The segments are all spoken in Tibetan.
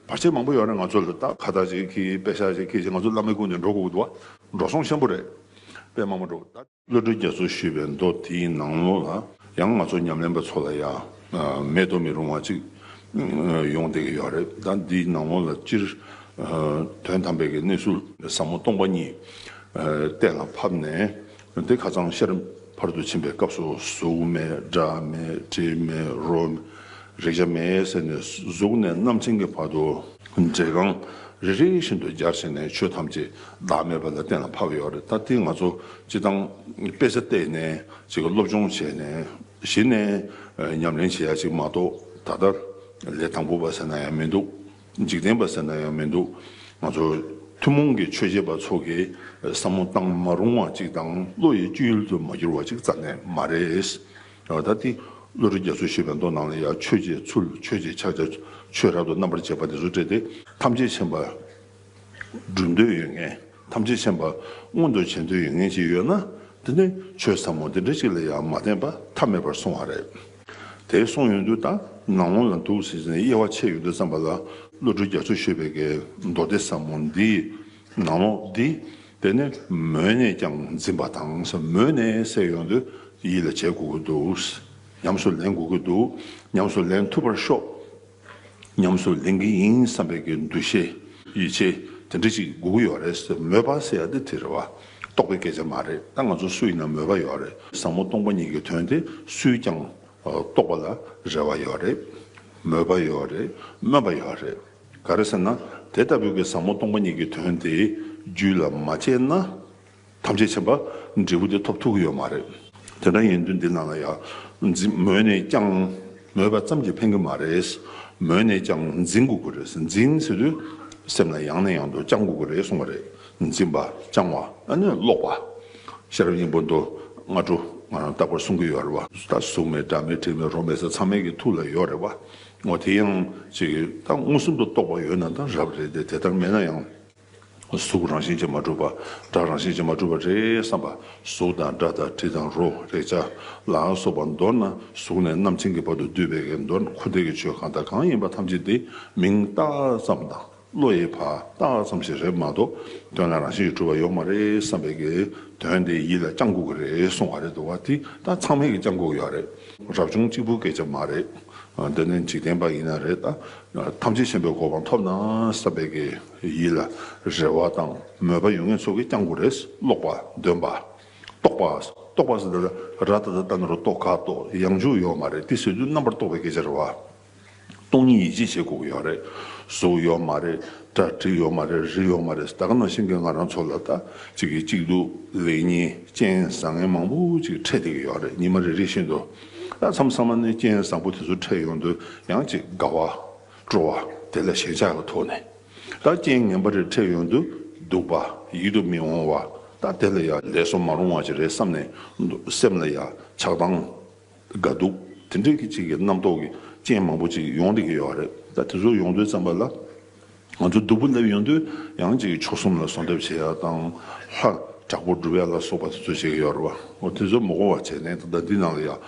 བར་ཆད་མང་པོ་ཡོད་རེད་ང་ཚོ་ལ་ད་ཁ་བརྡ་ཅིག་གིས་དཔེ་ཆ་ཅིག་གིས་ཀྱིས་ང་ཚོ་བླ་མའི་སྐུ་ནས་འགྲོ་དགོས་ཀྱི་འདུག་འགྲོ་སོང་ཆེན་པོ་རེད་དཔེ་མང་པོ་འགྲོ་ད། བློ་གྲོས་རྒྱ་མཚོ་ཞེས་པའི་མདོ་དེའི་ནང་ལོགས་ལ་ཡང་ང་ཚོ་ཉམས་ལེན་པ་ཚོ་ལ་ཡང་མེད་དུ་མི་རུང་བ་ཅིག་ཡོང་བསྡད་ཀྱི་ཡོད་རེད་ད་འདིའི་ནང་ལོགས་ལ་སྤྱིར་དོན་དམ་པའི་གནས་ཚུལ་ཟབ་མོ་སྟོང་པ་གཉིས་གཏན་ལ་ཕབ་ནས་དེ་ཁ་ཚང་ཤར་བར་དུ་ཕྱིན་པའི་སྐབས་སུ་གཟུགས་མེད་སྒྲ་མེད་དྲི་མེད་རོ་མེད་རེག་བྱ་མེད་ཟེར་ནས་གཟུགས་ནས་རྣམ་མཁྱེན་གྱི་བར་དུ། འབྲས་རྐང་རེ་རེ་བཞིན་དུ་སྦྱར་བྱས་ནས་ཆོས་ཐམས་ཅད་བདག་མེད་པ་ལ་གཏན་ལ་ཕབ་ཡོད་རེད་ད་དེ་ང་ཚོ་སྤྱི་བཏང་དཔེ་ཆ་བལྟས་ནས་ཅིག་སློབ་སྦྱོང་བྱས་ནས་གཞི་ནས་ཉམས་ལེན་བྱེད་ཡ་ཅིག་མ་གཏོགས་ད་ལྟ་ལས་དང་པོ་བ་ཟེར་ན་ཡང་མི་འདུག། འཇིག་རྟེན་པ་ཟེར་ན་ཡང་མི་འདུག་ང་ཚོ་ཐུན་མོང་གི་ཆོས་བྱེད་པ་ཚོ་གིས་བསམ་བློ་བཏང་མ་རུང་བ་ཅིག་དང་བློ་ཡི་བཅུད་ཡུལ་དུ་མ་གྱུར་བ་ཅིག་རྩ་ནས་མ་རེད། ད་ལྟ་འདི་བློ་རིག་རྒྱ་མཚོ་ཞེས་པའི་མདོ་ནང་ལ་ཡང་ཆོས་བྱེད་ཚུལ་ཆོས་བྱེད་ཕྱག་རྒྱ་ཆོས་རབ་ཏུ་རྣམ་པར་འབྱེད་པ་དེ་ཚོ་བཀྲལ་ཏེ་ཐམས་ཅད་མཁྱེན་པ་བསྒྲུབ་འདོད་ཡོད་ངེས་ཐམས་ཅད་མཁྱེན་པ་མངོན་དུ་བྱེད་འདོད་ཡོད་ངེས་ཅིག་ཡོད་ན་དེ་ནི་ཆོས་ཟབ་མོ་འདི་འདྲ་ཅིག་ལ་ཡང་མ་བརྟེན་པ་ཐབས་མེད་པར་སོང་བ་རེད། དེ་གསུངས་ཡོང་དུས་ད་ནང་ལོང་ལ་འདུག་ཟེར་ཟིན་དབྱེ་བ་ཕྱེ་ཡོང་དུས་བསམ་པ་ལ་བློ་གྲོས་རྒྱ་མཚོ་བཞུད་པའི་གེ་མདོ་སྡེ་ཟབ་མོ་འདིས་ནང་ལོག་འདི་དེ་ནས་མོས་ནས་ཀྱང་འཛིན་པ་དང་ཟབ་མོས་ནས་བསྲེག་ཡོང་དུས་ཡིད་ལ་བྱེད་དགོས་ཀྱི་འདུག་ཉམས་སུ་ལེན་དགོས་ཀྱི་འདུག་ཉམས་སུ་ལེན་ཐུབ་པར་ཤོག། ཉམས་སུ་ལེན་གྱི་ཡིན་བསམ་པའི་གི་འདུ་ཤེས། ཡིད་ཆེས། དེ་འདྲ་ཅིག་དགོས་ཀྱི་ཡོད་རེད་ཟེར་མོད་པ་ཟེར་ཡག་འདི་དེ་རེད་བ། རྟོགས་པའི་སྐད་ཆ་མ་རེད་ད་ང་ཚོ་སུ་ཡིན་ན་མོས་པ་ཡོད་རེད། བཟང་མོ་སྟོང་པ་ཉིད་ཀྱི་དོན་དེ་སུས་ཀྱང་རྟོགས་པ་ལ་རེ་བ་ཡོད་རེད། མོས་པ་ཡོད་རེད་སྨོན་པ་ཡོད་རེད། ག་རེ་ཟེར་ན་དེ་ལྟ་བུའི་གི་བཟང་མོ་སྟོང་པ་ཉིད་ཀྱི་དོན་དེའི་རྒྱུད་ལ་མ་སྤྱད་ན། ཐམས་ཅད་བྱེད་པ་འབྲས་བུ་དེ་ཐོབ་ཐུག་གི་ཡོད་མ་རེད། དེ་འདྲ་ཡིན་དུས་འདི་ན་ལ་ཡང་འཛིན་མོས་ནས་ཀྱང་མོས་པ་ཙམ་གྱིས་ཕན་གི་མ་རེད། མོས་ནས་ཀྱང་འཛིན་དགོས་ཀྱི་རེད་འཛིན་ཟེར་དུས་སེམས་ལ་ཡང་ནས་ཡང་དུ་བཅང་དགོས་ཀྱི་རེད་གསུངས་པ་རེད། འཛིན་པ་བཅང་བ་ཨ་ནི་ལོག་པ། ཤེས་རབ་སྙིང་པོ་མདོ་སྔ་དྲོ་ང་རང་རྟག་པར་གསུང་གི་ཡོད་རེད་བ། ད་གཟུགས་མེད་སྒྲ་མེད་དྲི་མེད་རོ་མེད་ཟེར་ཚང་མའི་གི་ཐུགས་ལ་ཡོད་རེད་བ། འོ་དེ་ཡང་ཅིག་ད་མངོན་སུམ་དུ་རྟོགས་པ་ཡོད་ན་ད་རབ་རེད་དེ་དེ་ལྟར་མེད་ན་ཡང། གཟུགས་རང་བཞིན་གྱིས་མ་གྲུབ་པ་སྒྲ་རང་བཞིན་གྱིས་མ་གྲུབ་པ་རེད་བསམ་པ་གཟུགས་དང་སྒྲ་དང་དྲི་དང་རོ་རེག་བྱ་ལའང་སོགས་པ་མདོར་ན་གཟུགས་ནས་རྣམ་མཁྱེན་གྱི་བར་དུ་བསྡུས་པའི་ཀའི་མདོར་ན་འཁོར་འདས་ཀྱི་ཆོས་གང་དང་གང་ཡིན་པ་ཐམས་ཅད་དེ་མིང་བཏགས་ཙམ་དང་བློ་ཡི་བར་བཏགས་ཙམ་ཞིག་རེད་མ་གཏོགས་དོན་ལ་རང་བཞིན་གྱིས་གྲུབ་པ་ཡོད་མ་རེད་བསམ་པའི་ཀའི་དོན་དེ་ཡིད་ལ་བརྐྱང་འགུག་གི་རེད་གསུང་བ་རེད་འདུག་བ་དེ་ད་ཚང་མས་ཀྱི་བརྐྱང་འགུག་ཡོད་རེད། རབ་བྱུང་གཅིག་པུ་སྐད་ཆ་མ་རེད། འདི་ནི་འཇིག་རྟེན་པ་ཡིན་ན་རེད་ད། ཐམས་ཅད་ཤེས་པའི་གོ་འཕང་ཐོབ་ན་བསམ་པའི་ཀའི། ཡིད་ལ་རེ་བ་དང་མོས་པ་ཡོད་མཁན་ཚོ་གིས་ཀྱང་གོ་རེ་ཀློག་པ་འདོན་པ་རྟོག་པ་རྟོག་པ་ཟེར་ན་ར་ལྟ་ད་ལྟ་ན་རུ་རྟོག་ཁ་དོག་ཡང་འཇུག་ཡོད་མ་རེད་དེ་ཟེར་དུས་རྣམ་པར་རྟོག་པའི་སྐད་ཆ་རེད་བ། སྟོང་ཉིད་ཡིད་ཆེས་བྱེད་དགོས་ཀྱི་ཡོད་རེད་གཟུགས་ཡོད་མ་རེད་གྲ་སྒྲིག་ཡོད་མ་རེད་རི་ཡོད་མ་རེད་ད་ག་ནང་བཞིན་གྱི་ང་རང་ཚོ་ལ་ལྟ་གཅིག་གིས་གཅིག་སྡུག་ལེགས་ཉེས་རྐྱེན་བཟང་ངན་མང་པོ་ཅིག་འཕྲད་བསྡད་ཀྱི་ཡོད་རེད་ཉི་མ་རེ་རེ་བཞིན་དུ་ཨ་མཚམས་ཚང་མ་ནས་རྐྱེན་བཟང་པོ་དེ་ཚོ་འཕྲད་ཡོང་དུས་ཡང་ཅིག་དགའ་བ། སྤྲོ་བ་དེ་ལ་ཞེན་ཆགས་ཀྱི་ཐོག་ནས་ད་རྐྱེན་ངན་པ་རེ་འཕྲད་ཡོང་དུ་འདུག་པ་ཡིད་དུ་མི་འོང་བ་དང་དེ་ལ་ཡང་ལས་སོ་མ་རུང་བ་ཅིག་རེད་བསམ་ནས་འདུག་སེམས་ལ་ཡང་ཆགས་སྡང་འགའ་འདུག་དེ་འདྲའི་ཅིག་གི་རྣམ་རྟོག་གི་རྐྱེན་མང་པོ་ཅིག་ཡོང་སྡད་ཀྱི་ཡོད་རེད་ད་དེ་ཚོ་ཡོང་དུས་བརྩམས་པ་ལ་ང་ཚོ་སྡུག་པོ་སླེབས་ཡོང་དུས་ཡང་ཅིག་མཆོག་གསུམ་ལ་གཟུང་ཐབས་བྱེད་ཡ་དང་ལྷ་དྲག་པོ་སྒྲུབ་ཡ་ལ་སོགས་པ་དེ་ཚོ་བྱེད་ཀྱི་ཡོད་རེད་བ་དེ་ཚོ་མོ་གོ་བ་བྱས་ནས་ད་ལྟ་འདི་ནང་ལ་ཡང་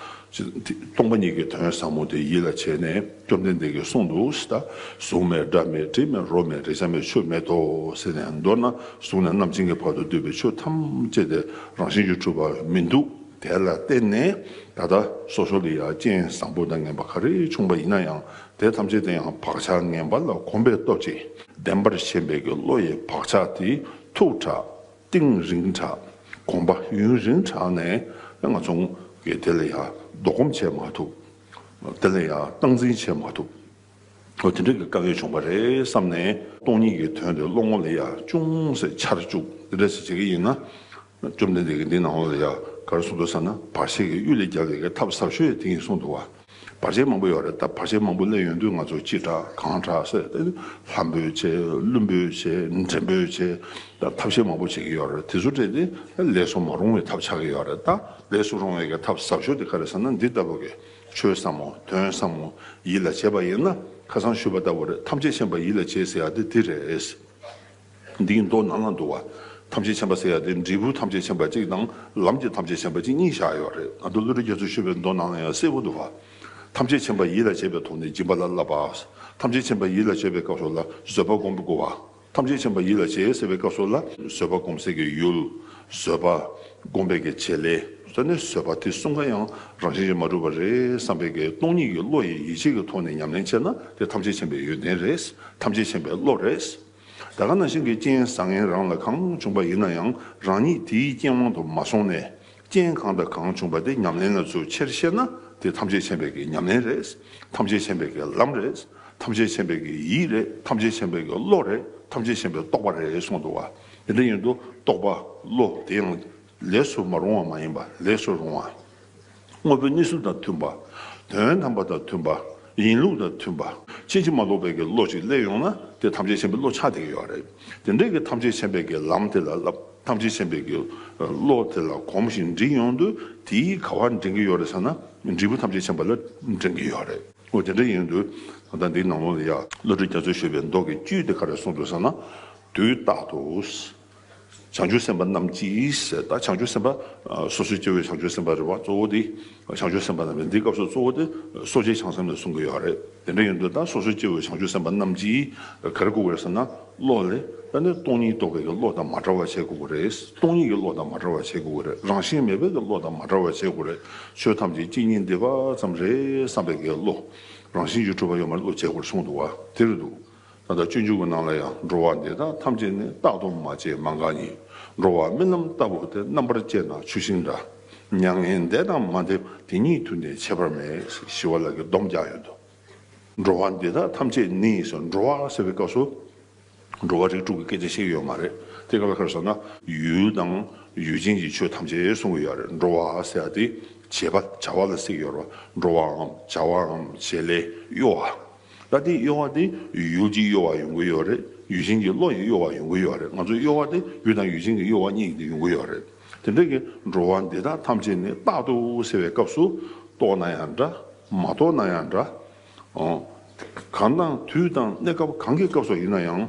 སྟོང་པ་ཉིད་ཀྱི་དོན་ཟབ་མོ་དེ་ཡིད་ལ་བྱས་ནས། བཅོམ་ལྡན་འདས་ཀྱིས་གསུངས་འདུག་ཇི་ལྟར། གཟུགས་མེད་སྒྲ་མེད་དྲི་མེད་རོ་མེད་རེག་བྱ་མེད་ཆོས་མེད་དོ་ཟེར་ནས་མདོར་ན་གཟུགས་ནས་རྣམ་མཁྱེན་གྱི་བར་དུ་འདུས་པའི་ཆོས་ཐམས་ཅད་དེ་རང་བཞིན་གྱིས་གྲུབ་པ་མི་འདུག་དེ་ལ་བརྟེན་ནས་ད་ལྟ་སོ་སོ་ལ་ཡང་རྐྱེན་བཟང་པོ་དང་ངན་པ་ག་རེ་བྱུང་བ་ཡིན་ན་ཡང་དེ་ཐམས་ཅད་དེ་ཡང་བག་ཆགས་ངན་པ་ལ་གོམས་པའི་སྟོབས་ཀྱིས་བདེན་པར་ཞེན་པའི་གི་བློ་ཡི་བག་ཆགས་དེ་ཐུགས་དྲག་ཏིང་རིང་དྲག་གོམས་པ་ཡུན་རིང་དྲག་ནས་ང་ཚོང་གིས་དེ་ལ་ཡང་བཟློག་གོམས་བྱས་མ་ཐུབ། དེ་ལ་ཡང་སྟངས་འཛིན་བྱེད་མ་ཐུབ། འོ་དེ་འདྲ་གི་དཀའ་ངལ་བྱུང་བ་རེད་བསམ་ནས། སྟོང་ཉིད་ཀྱི་དོན་དེ་བློ་ངོར་ལ་ཡང་ཅུང་ཟད་འཆར་བཅུག་དེ་འདྲ་ཞིག་བྱེད་ཀྱི་ཡིན་ན། བཅོམ་ལྡན་འདས་ཀྱིས་འདི་ནང་བ་ལ་ཡང་ག་རེ་གསུངས་འདུག་བསམ་ན་བར་ཆད་ཀྱི་གཡུལ་ལས་རྒྱལ་བའི་གི་ཐབས་ཟབ་ཤོས་ཡང་དེ་ཡིན་གསུངས་འདུག་བ། བར་ཆད་མང་པོ་ཡོད་རེད་ད་བར་ཆད་མང་པོ་གླས་ཡོད་དུས་ང་ཚོ་ཅི་དྲག་གང་དྲག་སེ་ལྷ་འབོད་བྱེད་ཀླུ་འབོད་བྱེད་འདྲེ་འབོད་བྱེད་ཐབས་ཤེས་མང་པོ་བྱེད་ཀྱི་ཡོད་རེད་དེ་ཚོ་བྲལ་ཏེ་ལས་སུ་མ་རུང་བའི་ཐབས་ཆགས་ཀྱི་ཡོད་རེད་ད། ལས་སུ་རུང་བའི་གི་ཐབས་ཟབ་ཤོས་དེ་ག་རེ་ཟེར་ན་འདི་ལྟ་བུ་གི། ཆོས་བསམ་མོ། དོན་བསམ་མོ། ཡིད་ལ་བྱེད་པ་ཡིན་ན། ཁ་སང་ཞུས་པ་ལྟ་བུ་རེད་ཐམས་ཅད་མཁྱེན་པ་ཡིད་ལ་བྱེད་ཟེར་ཡག་དེ་འདི་རེད། འདིའི་མདོ་ནང་ན་འདུག་བ། ཐམས་ཅད་མཁྱེན་པ་ཟེར་ཡག་དེ་འབྲས་བུ་ཐམས་ཅད་མཁྱེན་པ་གཅིག་དང། ལམ་གྱི་ཐམས་ཅད་མཁྱེན་པ་གཅིག་གཉིས་བཞག་ཡོད་རེད་ང་ཚོ་ཀླུ་རིགས་རྒྱ་མཚོས་ཞུས་པའི་མདོ་ནང་ན་ཡང་གསལ་བོ་འདུག་བ། ཐམས་ཅད་མཁྱེན་པ་ཡིད་ལ་བྱེད་པའི་ཐོག་ནས་སྦྱིན་པ་ལ་བསླབ་པ། ཐམས་ཅད་མཁྱེན་པ་ཡིད་ལ་བྱེད་པའི་སྐབས་སོགས་ལ་བཟོད་པ་བསྒོམ་དགོས་བ། ཐམས་ཅད་མཁྱེན་པ་ཡིད་ལ་བྱེད་ཟེར་བའི་སྐབས་སོགས་ལ། བཟོད་པ་སྒོམ་སེལ་གྱི་ཡུལ། བཟོད་པ། སྒོམ་པའི་གི་བྱེད་ལས། སོགས་ནི་བཟོད་པ་དེ་གསུམ་ཀ་ཡང་རང་བཞིན་གྱིས་མ་གྲུབ་པ་རེད་བསམ་པའི་གི་སྟོང་ཉིད་ཀྱི་བློ་ཡི་ཡིད་བྱེད་ཀྱི་ཐོག་ནས་ཉམས་ལེན་བྱས་ན་དེ་ཐམས་ཅད་མཁྱེན་པའི་ཡོན་ཏན་རེད། ཐམས་ཅད་མཁྱེན་པའི་བློ་རེད། ད་ག་ན་ཤིང་གི་རྐྱེན་བཟང་ངན་རང་ལ་གང་བྱུང་བ་ཡིན་ན་ཡང་རང་ཉིད་དེའི་རྐྱེན་དབང་དུ་མ་སོང་ནས། རྐྱེན་གང་དང་གང་བྱུང་བ་དེ་ཉམས་ལེན་ལ་ཚུལ་ཆེར་བཤད་ན་དེ་ཐམས་ཅད་ཆེན་པོའི་གི་ཉམས་ལེན་རེད། ཐམས་ཅད་ཆེན་པོའི་གི་ལམ་རེད། ཐམས་ཅད་ཆེན་པོའི་གི་ཡིད་རེད། ཐམས་ཅད་ཆེན་པོའི་གི་བློ་རེད། ཐམས་ཅད་ཆེན་པོའི་རྟོགས་པ་རེད་གསུངས་འདུག་བ། དེ་འདྲ་ཡིན་དུ་རྟོགས་པ་བློ་དེ་ཡང་ལས་སུ་མ་རུང་བ་མ་ཡིན་པ་ལས་སུ་རུང་བ། དངོས་པོའི་གནས་ཚུལ་དང་མཐུན་པ། དོན་དམ་པ་དང་མཐུན་པ། ཡིན་ལུགས་དང་མཐུན་པ། ཕྱིན་ཅི་མ་ལོག་པའི་གི་བློ་ཅིག་སླེབས་ཡོང་ན་དེ་ཐམས་ཅད་ཆེན་པོའི་བློ་ཆགས་དེ་གི་ཡོད་རེད། དེ་འདྲའི་གི་ཐམས་ཅད་ཆེན་པོའི་གི་ལམ་དེ་ལ་བསླབ། ཐམས་ཅད་མཁྱེན་པའི་དགེ། བློ་དེ་ལ་གོམས་ཤིང་འདྲི་ཡོང་དུས་དེས་ག་བར་འདྲེན་གྱི་ཡོད་རེད་བསམ་ན་འབྲས་བུ་ཐམས་ཅད་མཁྱེན་པ་ལ་འདྲེན་གྱི་ཡོད་རེད། ཨོ་དེ་འདྲ་ཡིན་དུས་ད་ལྟ་འདིའི་ནང་ལོགས་ལ་ཡ། བློ་གྲོས་རྒྱ་མཚོས་ཤོད་པའི་མདོ་གི་བཅུད་དེ་ག་རེ་གསུངས་འདུག་བསམ་ན། དུས་རྟག་ཏུ། བྱང་ཆུབ་སེམས་དཔའ་རྣམས་ཀྱིས། ད་བྱང་ཆུབ་སེམས་དཔའ། སོ་སོའི་སྐྱེ་བོས་བྱང་ཆུབ་སེམས་དཔའ་རེད་བ་གཙོ་བོ་དེ། བྱང་ཆུབ་སེམས་དཔའ་རྣམས་ཀྱིས་འདིའི་སྐབས་སུ་གཙོ་བོ་དེ་གསོ་བྱེད་བྱང་སེམས་ལ་གསུངས་ཀྱི་ཡོད་རེད། དེ་འདྲ་ཡིན་དུས་ད་སོ་སོའི་སྐྱེ་བོའི་བྱང་ཆུབ་སེམས་དཔའ་རྣམས་ཀྱིས་ག་རེ་བཀུག་གི་རེད་ཟེར་ན། བློ་ལས། ད་ནི་སྟོང་ཉིད་རྟོག་གེ་ཀྱི་བློ་དང་མ་བྲལ་བ་བྱེད་དགོས་ཀྱི་རེད། སྟོང་ཉིད་ཀྱི་བློ་དང་མ་བྲལ་བ་བྱེད་དགོས་ཀྱི་རེད། རང་བཞིན་མེད་པའི་ཀྱི་བློ་དང་མ་བྲལ་བ་བྱེད་དགོས་རེད། ཆོས་ཐམས་ཅད་སྐྱེ་གཉིས་འདས་པ་ཙམ་རེད་བསམ་པའི་ཀྱི་བློ། རང་བཞིན་གྱི་སྤྲུལ་པ་ཡོད་མ་རེད་བློ་བྱེད་དགོས་རེད་གསུངས་འདུག་བ་དེ་རེད་འདུག། ད་ལྟ་སྤྱོད་འཇུག་གི་ནང་ལ་ཡང་འགྲོ་བ་འདི་དག་ཐམས་ཅད་ནི་རྟག་ཏུ་མ་བྱས་མ་འགགས་ཉིད། འགྲོ་བ་རྨི་ལམ་ལྟ་བུ་སྟེ་རྣམ་པར་དཔྱད་ན་ཆུ་ཤིང་འདྲ། མྱ་ངན་འདས་དང་མ་འདས་དེ་ཉིད་དུ་ནི་བྱེད་པར་མེད། ཞི་བ་ལགས་ཀྱི་སྡོམ་རྒྱག་ཡོད་དོ། འགྲོ་བ་འདི་དག་ཐམས་ཅད་ནི་ཞེས་འགྲོ་བ་ཟེར་བའི་སྐབས་སུ། འགྲོ་བ་རིགས་དྲུག་གི་སྐད་ཆ་བཤད་ཡོད་མ་རེད་དེ། ག་ལ་ཁར་སོང་ན་ཡུལ་དང་ཡུལ་ཅན་གྱི་ཆོས་ཐམས་ཅད་གསུང་གི་ཡོད་རེད། འགྲོ་བ་ཟེར་བ་དེ་བྱེད་པ་བྱ་བ་ལ་གཟིགས་ཡོད་རེད། འགྲོ་བའམ་བྱ་བའམ་བྱེད་ལས་གཡོ་བ། ད་དེའི་གཡོ་བ་དེ་ཡུལ་གྱི་གཡོ་བ་ཡོང་གི་ཡོད་རེད་ཡུལ་ཞེན་གྱི་བློ་ཡི་གཡོ་བ་ཡོང་གི་ཡོད་རེད་ང་ཚོའི་གཡོ་བ་དེ་ཡུལ་དང་ཡུལ་ཞེན་གྱི་གཡོ་བ་གཉིས་ཀྱི་ཡོང་གི་ཡོད་རེད་དེ་འདྲ་གི་འགྲོ་བ་འདི་དག་ཐམས་ཅད་ནི་རྟག་ཏུ་ཟེར་བའི་སྐབས་སུ་རྟོགས་ན་ཡང་འདྲ་མ་རྟོགས་ན་ཡང་འདྲ། གང་དང་དུས་དང་གནས་སྐབས་གང་གི་སྐབས་སུ་ཡིན་ན་ཡང།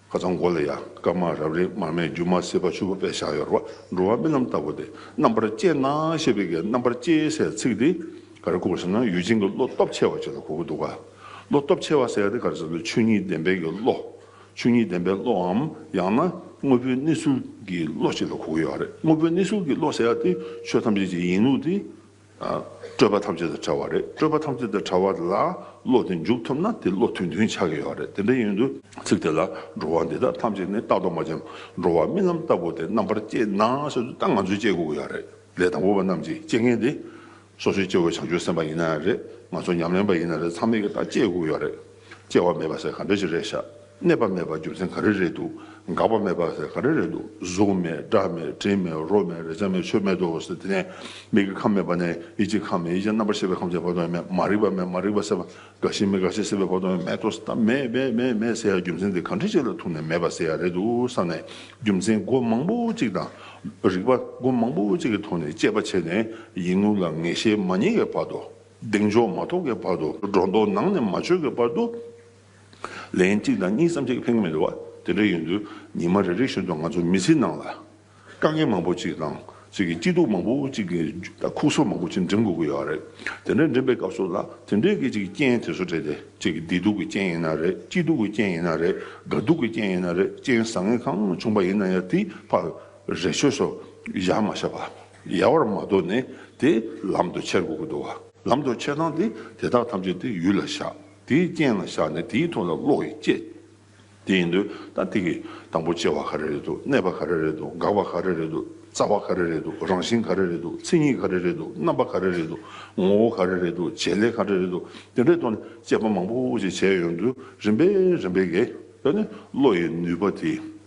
ཁ་ཚང་མགོ་ལ་ཡ་སྐར་མ་རབ་རིབ་མར་མེ་རྒྱུ་མ་སྲིད་པ་ཆུ་བོ་པད་ཤག་ཡོར་བ་འགྲོ་བ་རྨི་ལམ་ལྟ་བུ་སྟེ་རྣམ་པར་དཔྱད་ན་ཞེས་པའི་གའི་རྣམ་པར་དཔྱད་སའི་ཚིག་འདི་ག་རེ་གོ་དགོས་ཟེར་ན་ཡུལ་ཅན་གྱི་བློ་སྟོབས་ཆེ་བ་བཅས་ལ་གོ་དགོས་འདུག་ག་བློ་སྟོབས་ཆེ་བ་ཟེར་ཏེ་ག་རེ་ཟེར་ན་ཆོས་ཉིད་བདེན་པའི་གྱི་བློ། ཆོས་ཉིད་བདེན་པའི་བློའམ་ཡང་ན་དངོས་པོའི་གནས་ཚུལ་གྱི་བློ་བཅས་ལ་གོ་དགོས་ཡོད་རེད་དངོས་པོའི་གནས་ཚུལ་གྱི་བློ་ཟེར་ཏེ་ཆོས་ཐམས་ཅད་ཀྱི་ཡིན་ལུགས་དེ། སྤྲོས་པ་ཐམས་ཅད་དང་བྲལ་བ་རེད། སྤྲོས་པ་ཐམས་ཅད་དང་བྲལ་བ་ལ་བློ་དེ་འཇུག་ཐུབ་ན་དེ་བློ་དོན་མཐུན་ཆགས་ཀྱི་ཡོད་རེད་དེ་འདྲ་ཡིན་དུས། ཚིག་དེ་ལ་འགྲོ་བ་འདི་དག་ཐམས་ཅད་ནི་རྟག་ཏུ་མ་བྱན་འགྲོ་བ་རྨི་ལམ་ལྟ་བུ་དེ་རྣམ་པར་དཔྱད་ན་ཞེ་དུས་ད་ང་ཚོས་དཔྱད་དགོས་ཀྱི་ཡོད་རེད་ལས་དང་པོ་བ་རྣམས་ཀྱིས་དཔྱད་མཁན་དེ། སོ་སོའི་སྐྱེ་བོའི་བྱང་ཆུབ་སེམས་དཔའ་ཡིན་ན་ཡང་རེད་ང་ཚོ་ཉམས་ལེན་པ་ཡིན་ན་རེད་ཚང་མས་ཀྱིས་ད་དཔྱད་དགོས་ཀྱི་ཡོད་རེད། སྐྱེ་བ་མེད་པ་ཟེར་ག་འདྲ་ཞིག་རེད་བཞག་གནས་པ་མེད་པ་རྒྱུ་མཚན་ག་རེ་རེད་འདུག་འགག་པ་མེད་པ་ཟེར་ག་རེ་རེད་འདུག་གཟུགས་མེད་སྒྲ་མེད་དྲི་མེད་རོ་མེད་རེག་བྱ་མེད་ཆོས་མེད་དོ་ཟེར་དེ་ནས་མིག་གི་ཁམས་མེད་པ་ནས་ཡིད་ཀྱི་ཁམས་མེད་ཡིད་ཀྱི་རྣམ་པར་ཤེས་པའི་ཁམས་ཀྱི་བར་དོ་ཡང་མེད་མ་རིག་པ་མེད་མ་རིག་པ་ཟེར་བ་འགག་ཤིང་མི་འགག་ཤིང་ཟེར་བའི་བར་དོ་ཡང་མེད་དོ་ཟེར་ད་མེད་མེད་མེད་མེད་ཟེར་ཡ་རྒྱུ་མཚན་དེ་ག་འདྲ་ཞིག་ལ་ཐུག་ནས་མེད་པ་ཟེར་ཡ་རེད་འདུག་བསམ་ནས་རྒྱུ་མཚན་སྒོ་མང་པོ་གཅིག་དང། རིག་པ་སྒོ་མང་པོ་གཅིག་གི་ཐོག་ནས་དཔྱད་པ་བྱས་ནས་ཡིད་ངོ་ལ་ངེས་ཤེས་མ་རྙེད་པའི་བར་དོ། གདེང་འཇོག་མ་ཐོབ་ཀྱི་བར་དུ་སྒྲོ་འདོགས་ནང་ནས་མ་ཆོད་ཀྱི་བར་དུ། ལན་གཅིག་དང་གཉིས་སམ་གཅིག་ལྷིང་མེད་བ་དེ་འདྲ་ཡིན་དུས་ཉི་མ་རེ་རེ་བཞིན་དུ་ང་ཚོ་མི་ཚེའི་ནང་ལ། དཀའ་ངལ་མང་པོ་ཅིག་དང་ཚིག་གི་སྐྱིད་སྡུག་མང་པོ་ཅིག་གི་དང་ཁུག་སོ་མང་པོ་ཅིག་འགྲིམ་དགོས་ཀྱི་ཡོད་རེད། དེ་འདྲ་འགྲིམ་པའི་སྐབས་སུ་ལ་དེ་འདྲའི་གི་ཅིག་རྐྱེན་དེ་ཚོ་དྲན་ཏེ་ཅིག་བདེ་སྡུག་གི་རྐྱེན་ཡིན་ན་རེད་སྐྱིད་སྡུག་གི་རྐྱེན་ཡིན་ན་རེད་དགའ་སྡུག་གི་རྐྱེན་ཡིན་ན་རེད་རྐྱེན་བཟང་ངན་གང་བྱུང་བ་ཡིན་ན་ཡང་དེའི་བར་རེ་ཆོད་སོ་བཞག་མ་བྱས་པ། ཡལ་བར་མ་དོར་ནས་དེ་ལམ་དུ་ཆས་དགོས་ཀྱི་འདུག་བ། ལམ་དུ་ཆས་ཚང་སྟེ་དེ་དག་ཐམས་ཅད་དེའི་ཡུལ་ལ་བཞག་དེའི་རྐྱེན་ལ་བཞག་ནས་དེའི་ཐུགས་ལ་བློ་ཡིས་དཔྱད། དེ་ཡིན་དུས་ད་ཐིག་གི་དང་པོ་སྐྱེ་བ་ག་རེ་རེད་འདུག་གནས་པ་ག་རེ་རེད་འདུག་འགག་པ་ག་རེ་རེད་འདུག་རྩ་བ་ག་རེ་རེད་འདུག་རང་བཞིན་ག་རེ་རེད་འདུག་མཚན་ཉིད་ག་རེ་རེད་འདུག་རྣམ་པ་ག་རེ་རེད་འདུག་ངོ་བོ་ག་རེ་རེད་འདུག་བྱེད་ལས་ག་རེ་རེད་འདུག་དེ་འདྲའི་ཐོག་ནས་དཔྱད་པ་མང་པོ་ཞིག་བྱས་ཡོང་དུས་རིམ་པས་རིམ་པས་དགེ་བས་ནི་བློ་ཡི་ནུས་པ་དེ་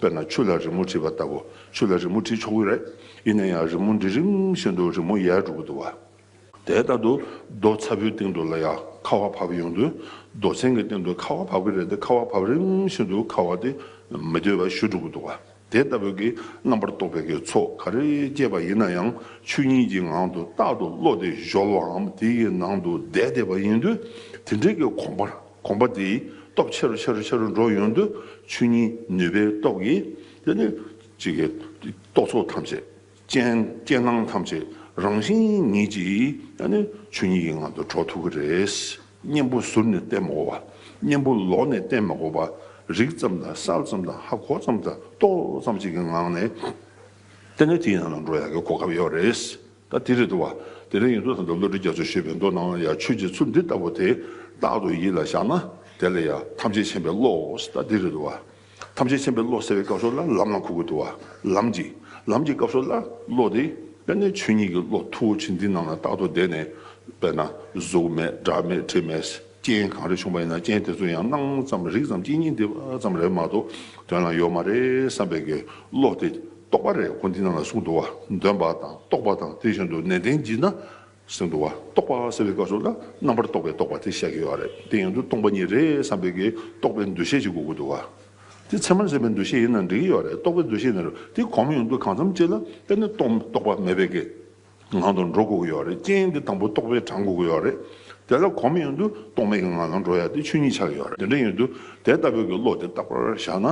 དཔེར་ན་ཆུ་ལ་རི་མོ་བྲིས་པ་ལྟ་བུ་ཆུ་ལ་རི་མོ་བྲིས་ཆོག་གི་རེད། ཡིན་ན་ཡང་རི་མོ་འདི་རིམ་བཞིན་དུ་རི་མོ་ཡལ་འགྲོ་གི་འདུག་བ། དེའི་རྟག་ཏུ་རྡོ་ཚ་བོའི་སྟེང་དུ་ལ་ཡ་ཁ་བ་བབས་ཡོང་དུས་རྡོ་ཆེན་གྱི་སྟེང་དུ་ཁ་བ་བབས་གི་རེད་དེ་ཁ་བ་བབས་རིམ་བཞིན་དུ་ཁ་བ་དེ་མི་བདེ་བ་ཞུ་འགྲོ་གི་འདུག་བ། དེ་ལྟ་བུ་གི་རྣམ་པར་རྟོག་པའི་གི་ཚོགས་ག་རེ་སྐྱེས་པ་ཡིན་ན་ཡང་ཆུ་ཉིད་ཀྱི་ངང་དུ་རྟག་ཏུ་བློ་དེ་གཞོལ་བའམ་དེ་ཡི་ནང་དུ་བསྡད་བསྡད་པ་ཡིན་དུས་དེ་འདྲའི་གི་གོམས་པར་གོམས་པ་དེའི་སྟོབས་ཆེ་རུ་ཆེ་རུ་ཆེ་རུ་འགྲོ་ཡོང་དུས་ཆོས་ཉིད་ནུས་པའི་སྟོབས་ཀྱིས་དེ་ནི་གཅིག་གི་རྟོག་ཚོགས་ཐམས་ཅད་ཅན་རྐྱེན་སྣང་ཐམས་ཅད་རང་བཞིན་ཉིད་ཀྱིས་ནི་ཆོས་ཉིད་ཀྱི་ངང་དུ་འགྲོ་ཐུབ་ཀྱི་རེད། གཉེན་པོ་ཟུར་ནས་བསྟེན་མ་གོ་བ་གཉེན་པོ་ལོགས་ནས་བསྟེན་མ་གོ་བ་རིག་ཙམ་དང་གསལ་ཙམ་དང་ཧ་གོ་ཙམ་དང་རྟོགས་ཙམ་ཅིག་གི་ངང་ནས་དེ་ནི་དེའི་ནང་ལ་འགྲོ་ཡག་གི་གོ་སྐབས་ཡོད་རེད། ད་དེ་རེད་འདུག་བ། དེ་རིང་ཡིན་དུས་ད་ལྟ་བློ་གྲོས་རྒྱ་མཚོས་ཤོད་པའི་མདོ་སྣང་ཡང་ཆོས་རྗེ་ཚུལ་འདི་ལྟ་བུ་དེ་རྟག་ཏུ་ཡིད་ལ་བཞག་ན་དེ་ལ་ཡང་ཐམས་ཅད་མཁྱེན་པའི་བློ། ད་དེ་རེད་འདུག་བ། ཐམས་ཅད་མཁྱེན་པའི་བློ་ཟེར་བའི་སྐབས་སོགས་ལ་ལམ་ལམ་ཁུག་ཁུག་འདུག་བ། ལམ་གྱི། ལམ་གྱི་སྐབས་སོགས་ལ་བློ་དེ་དཔེར་ན་ཆོས་ཉིད་ཀྱི་བློ་མཐུ་བོ་ཆེ་འདི་ནང་ན་རྟག་ཏུ་བསྡད་ནས་དཔེར་ན་གཟུགས་མེད་སྒྲ་མེད་དྲི་མེད། རྐྱེན་གང་རེ་བྱུང་བ་ཡིན་ན་རྐྱེན་དེ་ཚོ་ཡང་སྣང་ཙམ་རིག་ཙམ་གཅིག་གཉིས་འདི་ཙམ་རེད་མ་གཏོགས་དོན་ལ་ཡོད་མ་རེད་བསམ་པའི་དགེ་སློབ་དེ་རྟོགས་པ་རེད་ཁོང་འདི་རྣམས་ལ་གསུངས་འདུག་བ་འདོན་པ་དང་རྟོགས་པ་དང་དེ་བཞིན་དུ་ནན་ཏན་བགྱིས་ན་གསུངས་འདུག་བ་རྟོགས་པ་ཟེར་བའི་སྐབས་སུ་ལ་རྣམ་པར་རྟོག་པའི་རྟོགས་པ་དེ་བཤད་ཀྱི་ཡོད་རེད་དེ་ཡང་དུ་སྟོང་པ་ཉིད་རེད་བསམ་པའི་དགེ་རྟོགས་པའི་འདུ་ཤེས་ཅིག་དགོས་ཀྱི་འདུག་བ་དེ་ཚད་མར་ཟད་པའི་འདུ་ཤེས་ཡིན་ན་འགྲིག་ཡོད་རེད་རྟོགས་པའི་འདུ་ཤེས་ནི་རེད་དེ་གོང་མ་ཡོང་དུས་གང་འཚམ་ཅིག་ལ་བརྟེན་ནས་རྟོགས་པ་མེད་པའི་དགེ། ངང་དུ་འགྲོ་དགོས་ཀྱི་ཡོད་རེད་རྐྱེན་འདི་དང་པོ་རྟོགས་པས་དྲང་དགོས་ཀྱི་ཡོད་རེད། དེ་ལ་གོམས་ཡོང་དུས་རྟོག་མེད་ཀྱི་ངང་ལ་འགྲོ་ཡ་དེ་ཆོས་ཉིད་ཆགས་ཀྱི་ཡོད་རེད་དེ་འདྲ་ཡིན་དུས་དེ་ལྟ་བུའི་གི་བློ་དེ་རྟག་པར་བཞག་ན།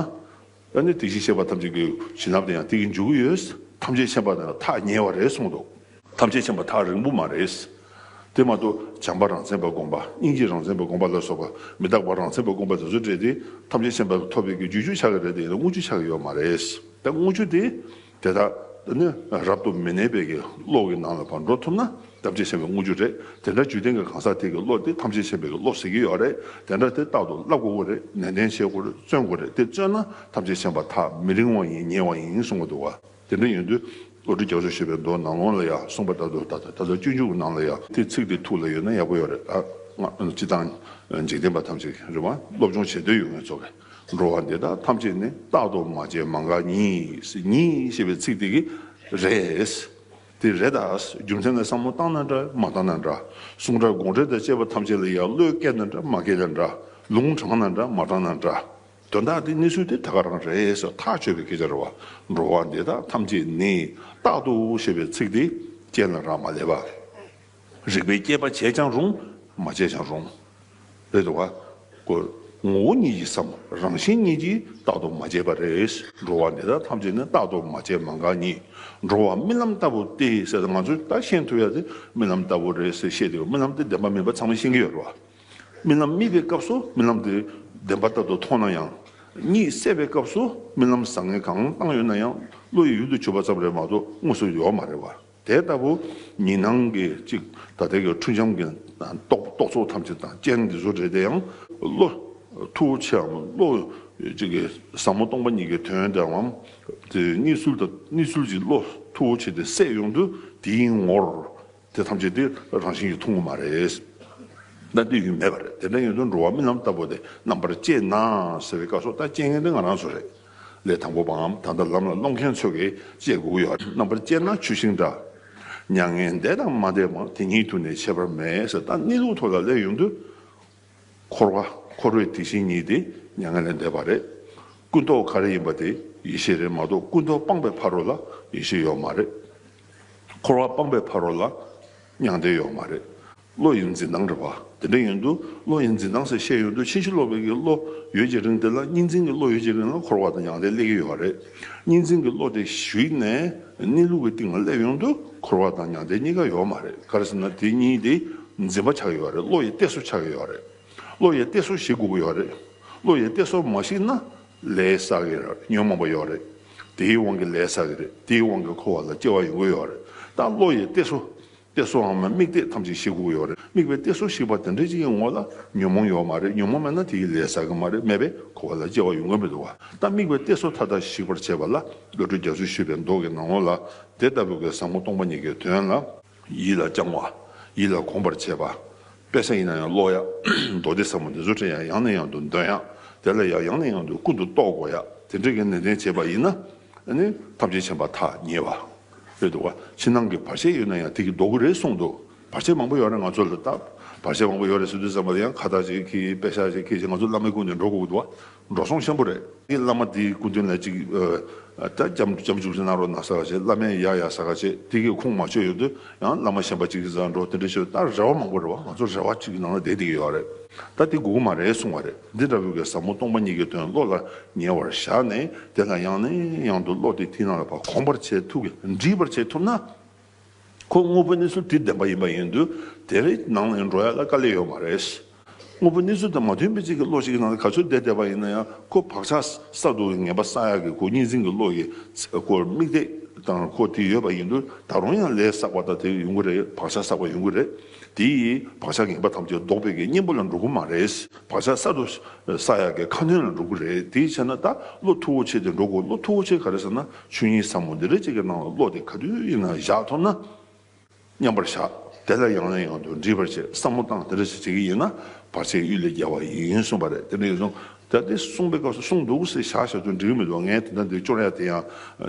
ཨ་ནི་དེ་བཞིན་གཤེགས་པ་ཐམས་ཅད་ཀྱི་བྱིན་རླབས་དེ་ཡང་དེ་གི་འཇུག་གི་ཡོད། ཐམས་ཅད་མཁྱེན་པ་དང་ཐག་ཉེ་བ་རེད་གསུངས་འདུག། ཐམས་ཅད་མཁྱེན་པ་ཐག་རིང་པོ་མ་རེད། དེ་མ་གཏོགས་བྱམས་པ་རང་མཚན་པར་དགོངས་པ་སྙིང་རྗེ་རང་མཚན་པར་དགོངས་པ་ལ་སོགས་པ་མི་རྟག་པ་རང་མཚན་པར་དགོངས་པ་དེ་ཚོ་སྤྲད་དེ་ཐམས་ཅད་མཁྱེན་པ་ཐོབ་པའི་གི་རྒྱུ་ཅུ་ཆགས་ཀྱི་རེད་དེ་ཡིན་ན་དངུལ་ཆུ་ཆགས་ཀྱི་ཡོད་མ་རེད། དེ་དངུལ་ཆུ་དེ་དེ་དག་ནི་རབ་ཏུ་མི་གནས་པའི་གློག་གི་ནང་ལ་བར་འགྲོ་ཐུབ་ན་ཐམས་ཅད་ཤེས་པའི་དངོས་རྒྱུ་རེད་དེ་འདྲ་འཇུག་ལྡན་གྱི་གང་ཟག་དེ་གི་གློག་དེ་ཐམས་ཅད་ཤེས་པའི་གློག་ཟེར་གྱི་ཡོད་རེད་དེ་འདྲ་དེ་རྟག་ཏུ་བསླབ་དགོས་དགོས་རེད་ནན་ཏན་བྱེད་དགོས་རེད་བརྩོན་དགོས་རེད་དེ་བརྩོན་ན་ཐམས་ཅད་ཤེས་པ་ཐག་མི་རིང་བ་ཡིན་ཉེ་བ་ཡིན་གསུང་གི་འདུག་དེ་འདྲ་ཡིན་དུས་བློ་གྲོས་རྒྱ་མཚོ་ཞེས་པའི་མདོ་ནག་ལོང་ལ་ཡང་གསུངས་པ་ལྟར་དུ་ད་ལྟ་དུས་འཇུག་གི་ནང་ལ་ཡང་དེའི་ཚིག་དེ་ཐུགས་ལ་ཡོད་ན་ཡག་པོ་ཡོད་རེད་ད་སྔ་སྤྱི་དང་འཇིག་རྟེན་པ་ཐམས་ཅད་རིག་དབང་སློབ་སྦྱོང་བྱེད་འདོད་ཡོད་ངེས་ཚོ་གས། འགྲོ་བ་འདི་དག་ཐམས་ཅད་ནི་རྟག་ཏུ་མ་བྱས་མ་འགགས་ཉིད། ཉིད་ཞེས་པའི་ཚིག་དེ་གི་རེད། དེ་རེད་ད། རྒྱུ་མཚན་ལ་བསམ་བློ་བཏང་ན་འདྲ་མ་བཏང་ན་འདྲ། གསུང་སྒྲ་དགོངས་འགྲེལ་དང་བཅས་པ་ཐམས་ཅད་ལ་ཡང་བློས་བཀལ་ན་འདྲ་མ་བཀལ་ན་འདྲ། ལུང་དྲངས་ན་འདྲ་མ་དྲངས་ན་འདྲ། དོན་དག་དེ་གནས་ཚུལ་དེ་ད་ག་རང་རེད་སོགས་ཐག་གཅོད་པའི་སྐད་ཆ་རེད་བ། འགྲོ་བ་འདི་དག་ཐམས་ཅད་ནི་རྟག་ཏུ་ཞེས་པའི་ཚིག་དེ་ཅན་ལ་རག་མ་ལས་པ། རིག་པའི་སྐྱེས་པ་བྱས་ཀྱང་རུང་མ་བྱས་ཀྱང་རུང། རེད་དོ། ངོ་བོ་ཉིད་ཀྱི་སམ་རང་བཞིན་ཉིད་ཀྱིས་རྟག་ཏུ་མ་བྱས་པ་རེད། འགྲོ་བ་འདི་དག་ཐམས་ཅད་ནི་རྟག་ཏུ་མ་བྱས་མ་འགགས་ཉིད་འགྲོ་བ་རྨི་ལམ་ལྟ་བུ་སྟེ་ཟེར་ཏེ་ང་ཚོས་ད་ཤེས་ཐུབ་ཡ་དེ་རྨི་ལམ་ལྟ་བུ་རེད་ཟེར་བཤད་དེ་རྨི་ལམ་དེ་བདེན་པ་མིན་པ་ཚང་མས་ཤེས་ཀྱི་ཡོད་རེད། རྨི་ལམ་རྨིས་པའི་སྐབས་སུ་རྨི་ལམ་དེ་བདེན་པ་ལྟ་བུ་མཐོང་ན་ཡང། གཉིད་སད་པའི་སྐབས་སུ་རྨི་ལམ་བཟང་ངན་གང་བཏང་ཡོད་ན་ཡང་བློ་ཡི་ཡུལ་དུ་གྱུར་པ་ཙམ་རེད་མ་གཏོགས་དངོས་སུ་ཡོད་མ་རེད་བ། དེ་ལྟ་བུ་ཉིད་སྣང་གི་གཅིག་ཐ་དད་ཀྱི་འཁྲུལ་འབྱམས་ཀྱི་རྟོག་ཚོགས་ཐམས་ཅད་དང་རྐྱེན་གྱི་བཟོ་འབྲེལ་དེ་ཡང། བློ། ཐུགས་ཆེའམ་བློ། གཅིག་གི་ཟབ་མོ་སྟོང་པ་ཉིད་ཀྱི་དོན་འདྲ་བའམ། དེ་གཉིས་ཚུལ་དང་གཉིས་ཚུལ་གྱིས་བློ། ཐུགས་ཆེ་དེ་སྲས་ཡོངས་འདུ་དེའི་ངོར། དེ་ཐམས་ཅད་དེ་རང་བཞིན་གྱིས་ཐུང་ངུ་མ་རེད། ལྟ་འདོད་ཡུལ་མེད་པ་རེད་དེ་འདྲ་ཡོད་དུ་འགྲོ་བ་རྨི་ལམ་ལྟ་བུ་དེ་རྣམ་པར་དཔྱད་ན་ཟེར་བའི་བཀའ་སོགས་ལྟ་དཔྱད་མཁན་དེ་ང་རང་ཚོ་རེད། ལས་དང་པོ་པའམ་ད་ལྟ་ལམ་ལ་སློང་མཁན་ཚོ་གི་ལྕེ་དགུ་ཡོད་རྣམ་པར་དཔྱད་ན་ཆུ་ཤིང་འདྲ། མྱ་ངན་འདས་དང་མ་འདས་བར་དེ་ཉིད་དུ་ནི་ཆད་པར་མེད་ས་ད་གནས་ལུགས་ཐོག་ལ་ལས་ཡོངས་འདུ། འཁོར་བ་འཁོར་བའི་དེ་བཞིན་ཉིད་དེ་མྱ་ངན་ལས་འདས་པ་རེད། ཀུན་རྟོག་ག་རེ་ཡིན་པ་དེ་ཡེ་ཤེས་རེད་མ་གཏོགས་ཀུན་རྟོག་སྤངས་པའི་ཕ་རོལ་ལ་ཡེ་ཤེས་ཡོད་མ་རེད། འཁོར་བ་སྤངས་པའི་ཕ་རོལ་ལ་མྱང་འདས་ཡོད་མ་རེད། བློ་ཡི་འཛིན་སྟངས་རེད་བ། དེ་འདྲ་ཡོད་དུས་བློ་ཡི་འཛིན་སྟངས་ཟེར་བཤད་ཡོད་དུས་ཕྱིན་ཅི་ལོག་པའི་གི་བློ་ཡོད་ཀྱི་རིང་དེ་ལ་གཉིས་འཛིན་གྱི་བློ་ཡོད་ཀྱི་རིང་ལ་འཁོར་བ་དང་ཡང་དེ་སླེ་གི་ཡོད་བ་རེད། གཉིས་འཛིན་གྱི་བློ་དེ་ཞིག་ནས་གནས་ལུགས་ཀྱི་སྟེང་ལ་སླེབས་ཡོང་དུས་འཁོར་བ་དང་ཡང་དེ་གཉིས་ཀ་ཡོད་མ་རེད་ག་རེ་ཟེར་ན་དེ་གཉིས་དེ་འཛིན་པ་ཆགས་ཡོད་བ་རེད་བློ་ཡི་གཏད་སོ་ཆགས་ཡོད་བ་རེད། བློ་ཡི་གཏད་སོ་ཞིག་དགོས་གི་ཡོད་བ་རེད། བློ་ཡི་གཏད་སོ་མ་ཞིག་ན་ལས་ས་གི་རེད་ཉོན་མོངས་པ་ཡོད་བ་རེད། དེའི་དབང་གི་ལས་ས་གི་རེད་དེའི་དབང་གི་འཁོར་བ་ལ་སྐྱེ་བ་ཡོང་གི་ཡོད་བ་རེད་ད་བློ་ཡི་གཏད་སོ་གཏད་སོ་འམ་དམིགས་གཏད་ཐམས་ཅད་ཞིག་དགོས་ཡོད་རེད་དམིགས་པའི་གཏད་སོ་ཞིག་པ་དེ་འདྲ་ཅིག་གི་ངོ་ལ་ཉོན་མོངས་ཡོད་མ་རེད་ཉོན་མོངས་མེད་ན་དེ་ཡི་ལས་ཟ་གི་མ་རེད་མེད་པས་འཁོར་བ་ལ་སྐྱེ་བ་ཡོང་གི་མི་འདུག་བ་ད་དམིགས་པའི་གཏད་སོ་མཐའ་དག་ཞིག་པར་བྱས་པ་ལ་བློ་གྲོས་རྒྱ་མཚོས་ཞུས་པའི་མདོ་གི་ནང་ངོ་ལ་དེ་ལྟ་བུའི་གེ་སང་མོ་སྟོང་པ་ཉིད་ཀྱི་དོན་ལ། ཡིད་ལ་བཅང་བ། ཡིད་ལ་གོམས་པར་བྱེད་པ། དཔེ་ཟ་ཡིན་ན་ཡང་ཀློག་ཡ། མདོ་སྡེ་ཟབ་མོ་འདི་ཚོ་དྲན་ཡ་ཡང་ནས་ཡང་དུ་འདོན་ཡ། དེ་ལ་ཡ་ཡང་ནས་ཡང་དུ་ཀུན་ཏུ་རྟོག་གོ་ཡ་དེ་འདྲ་གི་ནན་ཏན་བྱེད་པ་ཡིན་ན། ནི། ཐམས་ཅད་བྱམས་པ་ཐག་ཉེ་བ། རེད་འདུག་ག། ཕྱི་ནང་གི་བར་ཆད་ཡོད་ན་ཡང་དེ་གི་ལྡོག་གི་རེད་གསུངས་འདུག་བར་ཆད་མང་པོ་ཡོད་རེད་ང་ཚོ་ལ་ད། བར་ཆད་མང་པོ་ཡོད་རེད་ཟེར་དུས་བསམ་པ་དེ་ཡང་ཁ་བཏགས་ཅིག་གིས་དཔེ་ཞག་ཅིག་གིས་ཅིག་ང་ཚོ་བླ་མའི་སྐུ་ནས་འགྲོ་དགོས་ཀྱི་འདུག་ག། འགྲོ་སོང་ཤམ་པོ་རེད། ཀྱི་བླ་མ་དེའི་སྐུ་མདུན་ལ་ཅིག། ད་བྱམས་བྱུག་ཅིག་གནང་རོགས་གནང་ཟེར་ག་ཅིག་བླ་མས་ཡག་ཡག་ཟེར་ག་ཅིག་དེ་གི་ཁུངས་མ་ཆོད་ཡོད་དུས། ཡང་བླ་མ་ཞེན་པ་གཅིག་བཟའ་འགྲོ་དེ་འདྲ་ཞིག་ལ་ད་རེ་བ་མང་པོ་རེ་བ་ང་ཚོ་རེ་བ་གཅིག་གི་ནང་ལ་བསྡད་དེ་ཡོད་རེད་ད་དེ་དགོས་གི་མ་རེད་གསུང་བ་རེད་འདི་འདྲ་བོ་གའི་ཟབ་མོ་སྟོང་པ་ཉིད་ཀྱི་དོན་བློ་ལ་ཉེ་བར་བཞག་ནས་དེ་ལ་ཡང་ནས་ཡང་དུ་བློ་དེ་ཐིག་ནང་ལ་བ་གོམས་པར་བྱེད་ཐུབ་གི་འདྲིས་པར་བྱེད་ཐུབ་ན་ཁོ་དངོས་པོ་གནས་ཚུལ་དེ་བདེན་པ་ཡིན་པ་ཡིན་དུས་དེ་རེ་ནང་ལ་འགྲོ་ཡ་ལ་དཀའ་ལས་ཡོད་མ་རེད། དངོས་པོའི་གནས་ཚུལ་དང་མ་མཐུན་པའི་གཅིག་གི་བློ་ཞིག་གི་ནང་དུ་ག་ཚོད་བསྡད་བསྡད་པ་ཡིན་ན་ཡང་ཁོ་བག་ཆགས་སྲ་འདུག་གི་ངན་པ་བསགས་ཡག་གི་གོ་གཉིས་འཛིན་གྱི་བློ་ཡི་སྐོར་དམིགས་གཏད་དང་ཁོ་དེ་ཡོད་པ་ཡིན་དུས་ད་རུང་ཡང་ལས་བསགས་པ་དང་དེ་ཡོང་གི་རེད་བག་ཆགས་བསགས་པ་ཡོང་གི་རེད་དེ་ཡིས་བག་ཆགས་ངན་པ་ཐམས་ཅད་བཟློག་པའི་གི་གཉེན་པོ་ལ་འགྲོ་གི་མ་རེད་བག་ཆགས་སྲ་འདུག་བསགས་ཡག་གི་ཁ་སྣོན་ལ་འགྲོ་གི་རེད་དེ་བྱས་ན་ད་བློ་མཐུ་བོ་ཆེ་དེ་འགྲོ་དགོས་བློ་མཐུ་བོ་ཆེ་ག་རེད་ཟེར་ན་ཆོས་ཉིད་ཟབ་མོ་འདི་རེད་ཅེས་ཀྱི་ནང་ལ་བློ་དེ་ག་དུས་ཡིན་ན་བཞག་ཐུབ་ན། མཉམ་པར་བཞག། དེ་ལ་ཡང་ནས་ཡང་དུ་འདྲིས་པར་བྱེད་བསམ་བློ་བཏང་དེ་འདྲ་ཞིག་བྱེད་ཀྱི་ཡིན་ན་བར་ཆད་གཡུལ་ལས་རྒྱལ་བ་ཡིན་གསུངས་པ་རེད་དེ་འདྲ་ཡིན་གསུངས། ད་དེ་གསུངས་པའི་སྐབས་སུ་གསུངས་འདུག་ཟེར་བཞག་བཞག་ཏུ་འདྲི་གི་མི་འདུག་ངས་དེ་ལྟར་འདིར་སྐྱོར་ཡ་དེ་ཡང་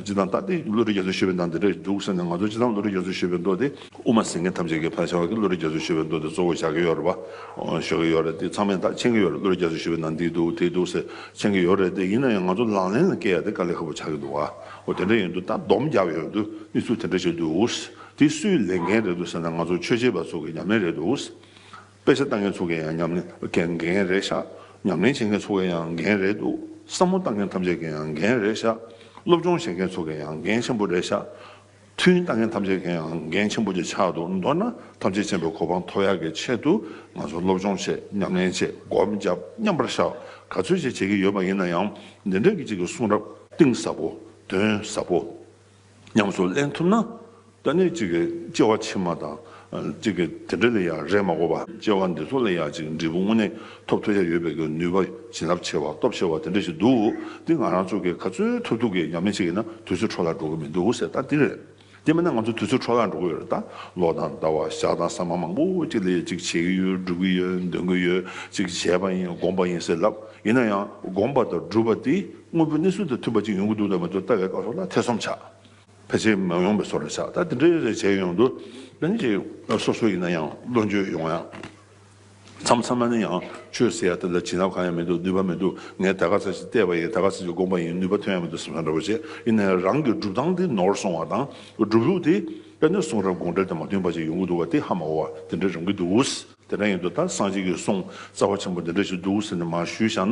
ཅི་དང་ད་དེ་བློ་རིག་རྒྱ་མཚོས་ཤོད་པའི་མདངས་དེ་འདྲ་འདུག་ཟེར་ནས་ང་ཚོ་ཅི་ཙམ་བློ་རིག་རྒྱ་མཚོས་ཤོད་པའི་མདོ་དེ། དབུ་མ་ཟེར་མཁན་ཐམས་ཅད་ཀྱིས་ཕར་བཞག་གི་བློ་རིག་རྒྱ་མཚོས་ཤོད་པའི་མདོ་དེ་གཙོ་བོར་བཞག་གི་ཡོད་རེད་པ། ཤོད་ཀྱི་ཡོད་རེད་དེ་ཚང་མས་ད་མཁྱེན་གྱི་ཡོད་རེད་བློ་རིག་རྒྱ་མཚོས་ཤོད་པའི་མདངས་འདི་འདུག་དེ་འདུག་ཟེར་མཁྱེན་གྱི་ཡོད་རེད་དེ་ཡིན་ན་ཡང་ང་ཚོ་ལག་ལེན་ལ་བཀལ་ཡ་དེ་དཀའ་ལས་ཁ་པོ་ཆགས་ཀྱི་འདུག་བ། འོ་དེ་འདྲ་ཡིན་འདུག་ད་སྡོམ་རྒྱག་ཡོད་འདུག་གནས་ཚུལ་དེ་འདྲ་ཞིག་འདུག་དེ་སུའི་ལས་འགན་རེད་འདུག་ཟེར་ན་ང་ཚོ་ཆོས་བྱེད་པ་ཚོ་གི་ཉམས་ལེན་རེད་འདུག་དཔེ་ཆ་བལྟ་མཁན་ཚོ་གི་ཡང་ཉམས་ལེན་གྱི་འགན་རེད་ཤག་ཉམས་ལེན་བྱེད་མཁན་ཚོ་གི་ཡང་འགན་རེད་འདུག་བསམ་བློ་བཏང་མཁན་ཐམས་ཅད་ཀྱི་ཡང་འགན་རེད་ཤག་སློབ་སྦྱོང་བྱེད་མཁན་ཚོ་གི་ཡང་འགན་ཆེན་པོ་རེད་ཤག་མཐུན་ལྟ་མཁན་ཐམས་ཅད་ཀྱིའང་འགན་ཆེན་པོ་དེ་ཕྱག་ཏུ་འདོགས་ན་ཐམས་ཅད་མཁྱེན་པའི་གོ་འཕང་ཐོབ་ཡག་གི་ཆེད་དུ་ང་ཚོ་སློབ་སྦྱོང་བྱེད་ཉམས་ལེན་བྱེད་སྒོམ་བརྒྱབ་མཉམ་པར་བཞག་ག་ཚོད་བྱེད་བྱེད་ཀྱི་ཡོད་པ་ཡིན་ན་ཡང་འདི་འདྲ་གི་ཅིག་གི་གསུང་རབ། གཏིང་ཟབ་པོ་དོན་ཟབ་པོ་ཉམས་སུ་ལེན་ཐུབ་ན་ད་ནི་ཅིག་གི་སྐྱེ་བ་ཕྱི་མ་དང། གཅིག་གིས་དེ་འདྲ་ལས་ཡག་རེད་མ་གོ་བ། སྐྱེ་བ་འདི་ཚོ་ལས་ཡག་ཅིག་འབྲས་བུ་དངོས་གནས་ཐོབ་ཐུབ་ཡ་ཡོད་པའི་གི་ནུས་པ་བྱིན་རླབས་ཆེ་བ་སྟོབས་ཆེ་བ་དེ་འདྲ་ཞིག་འདུག་འདི་ང་རང་ཚོ་གི་ག་ཚོད་ཐུབ་ཐུབ་ཀྱི་ཉམས་ལེན་བྱེད་ཀྱི་ན་དུས་ཚོད་འཕྲོ་བརླག་འགྲོ་གི་མི་འདུག་ཟེར་ད་འདི་རེད། དེ་མིན་ན་ང་ཚོ་དུས་ཚོད་འཕྲོ་བརླག་འགྲོ་གི་ཡོད་རེད་ད། ལོ་དང་ཟླ་བ་ཞག་དང་ཟ་མ་མང་པོ་ཅིག་ལས་ཅིག་བྱེད་ཀྱི་ཡོད་སྒྲུབ་ཀྱི་ཡོད་འདོན་གྱི་ཡོད་ཅིག་བྱས་པ་ཡིན་སྒོམ་པ་ཡིན་ཟེར་ལབ་ཡིན་ན་ཡང་སྒོམ་པ་དང་སྒྲུབ་པ་དེ་དངོས་པོའི་གནས་ཚུལ་དང་མཐུན་པ་ཅིག་ཡོང་གི་འདུག་དང་མི་འདུག་ལྟ་བའི་སྐབས་སོགས་ལ་ཐེ་ཚོམ་ཆགས། ཕལ་ཆེར་མ་ཡོང་བའི་སོགས་རེད་ཆགས་ད་དེ་འདྲའི་རེ་བྱས་ཡོང་དུ་ལན་ཅིག་སོ་སོ་ཡིན་ན་ཡང་བློ་འགྱོད་ཡོང་ཡ། མཚམས་མཚམས་མ་ནི་ཡང་ཆོས་ཟེར་ཡ་དེ་ལ་བྱིན་རླབས་གང་ཡང་མི་འདུག་ནུས་པ་མི་འདུག་ངས་ད་ག་ཚད་ཅིག་བལྟས་པ་ཡིན་ད་ག་ཚད་ཅིག་དགོངས་པ་ཡིན་ནུས་པ་ཐོན་ཡ་མི་འདུག་སེམས་ཤ་འདྲ་བོ་བྱེད་ཡིན་ནའི་རང་གི་སྒྲུབ་སྟངས་དེ་ནོར་སོང་བ་དང་སྒྲུབ་ལུགས་དེ་དཔེ་ནོར་གསུང་རབས་དགོངས་འགྲེལ་དང་མ་མཐུན་པ་ཅིག་ཡོང་གི་འདུག་བ་དེ་ཧ་མ་གོ་བ་དེ་འདྲ་རང་གི་འདུག། དེ་འདྲ་ཡིན་དུ་ད་སངས་རྒྱས་ཀྱིས་སོང་རྩ་བ་ཆེན་པོ་འདི་འདྲ་ཞིག་འདུག་ཟེར་ནས་མར་ཞུས་བཞག་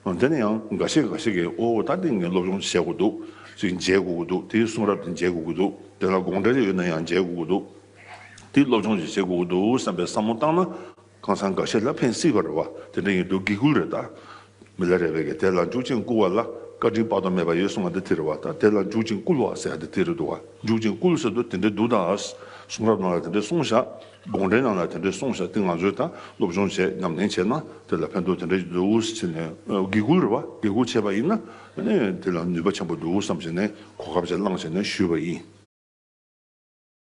ན། དེ་ནི་ཡང་འགའ་ཤས་འགའ་ཤས་ཀྱིས་ཨོ་ད་འདི་ངས་སློབ་སྦྱོང་བྱེད་དགོས་འདུག་ཅིག་མཇལ་དགོས་ཀྱི་འདུག་དེའི་གསུང་རབ་དེ་མཇལ་དགོས་ཀྱི་འདུག་དེ་ལ་དགོངས་འགྲེལ་རེ་ཡོད་ན་ཡང་མཇལ་དགོས་ཀྱི་འདུག་དེའི་སློབ་སྦྱོང་ཞིག་བྱེད་དགོས་ཀྱི་འདུག་བསམ་པའི་བསམ་བློ་བཏང་ན། གང་ཟག་འགའ་ཤས་ལ་ཕན་སྲིད་པར་རེ་བ་དེ་འདྲ་ཡིན་འདུག་དགེ་བསྐུལ་རེ་ད། མི་ལ་རེ་བས་ཀྱི་དེ་ལ་འཇུག་ཅིང་བསྐུལ་བ་ལ་བཀའ་དྲིན་དཔག་ཏུ་མེད་པ་ཡོད་གསུང་བ་འདི་དེ་རེད་བ་ད་དེ་ལ་འཇུག་ཅིང་བསྐུལ་བ་ཟེར་ཡག་འདི་དེ་རེད་འདུག་བ་འཇུག་ཅིང་བསྐུལ་ཟེར་དུ་དེ་འདྲ་འདུག་ད་གསུང་རབ་ནང་ལ་དེ་འདྲ་གསུང་བཞག། དགོངས་འགྲེལ་ནང་ལ་དེ་འདྲའི་གསུང་བཞག་དེ་ང་ཚོས་ད་སློབ་སྦྱོང་བྱས་ཉམས་ལེན་བྱས་ན་དེ་ལ་ཕན་ཐོགས་དེ་འདྲ་ཞིག་འདུག་བྱས་ནས་དགེ་བསྐུལ་རེད་བ་དགེ་བསྐུལ་བྱས་པ་ཡིན་ན་དེ་ལ་ནུས་པ་ཆེན་པོ་འདུག་བསམ་བྱས་ནས་གོ་སྐབས་ཅིག་བླངས་བྱས་ནས་ཞུས་པ་ཡིན།